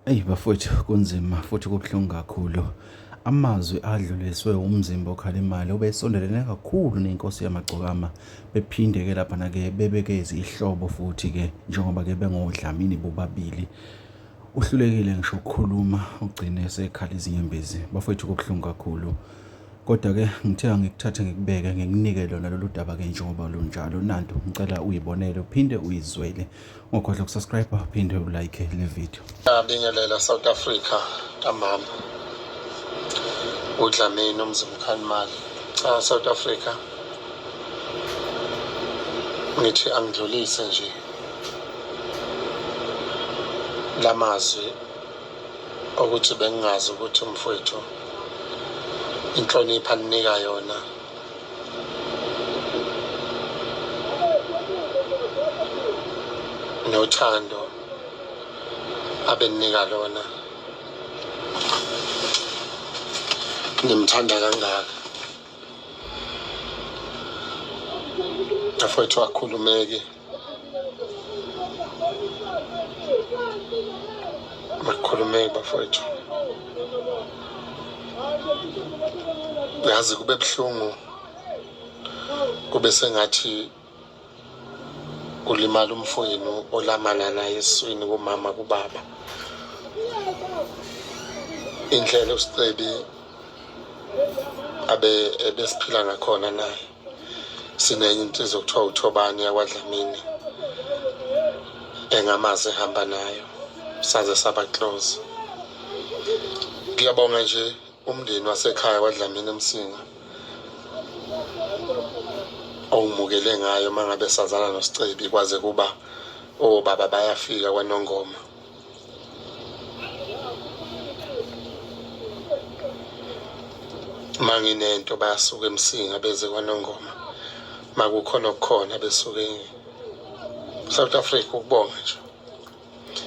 Eyi bafowethu kunzima futhi kubuhlungu kakhulu. Amazwi adluliswe umzimba okhala imali obesondelene kakhulu nenkosi yamagcokama bephinde-ke laphana-ke bebeke izihlobo futhi-ke njengoba-ke bengodlamini bobabili. Uhlulekile ngisho ukukhuluma ugcine esekhala izinyembezi. Bafowethu kubuhlungu kakhulu. Kodwa-ke ngithe angikuthathe ngikubeke ngikunike lona lolu daba-ke njengoba lunjalo nanto ngicela uyibonele uphinde uyizwele ungakhohlwa ukusubscribe uphinde ulike le video ngiyabingelela south africa ntambama udlamini umzimkhanimali cha south africa ngithi angidlulise nje la mazwi ukuthi bengingazi ukuthi umfowethu inhlonipho alinika yona nothando abeninika lona ngimthanda kangaka afowethu akhulumeki Makhulumeki bafowethu. Yazi kube buhlungu kube sengathi kulimala umfoyenu olamana naye eswini kumama kubaba indlela usicebi abe ebesiphila ngakhona naye sinenye insizwa okuthiwa uthobani yakwadlamini engamazi ehamba nayo saze saba close ngiyabonga nje umndeni wasekhaya wadlamini emsinga owumukele ngayo uma ngabe sazana nosicebi kwaze kuba obaba bayafika kwanongoma manginento bayasuka emsinga beze kwanongoma makukhona okukhona besuke south africa ukubonga nje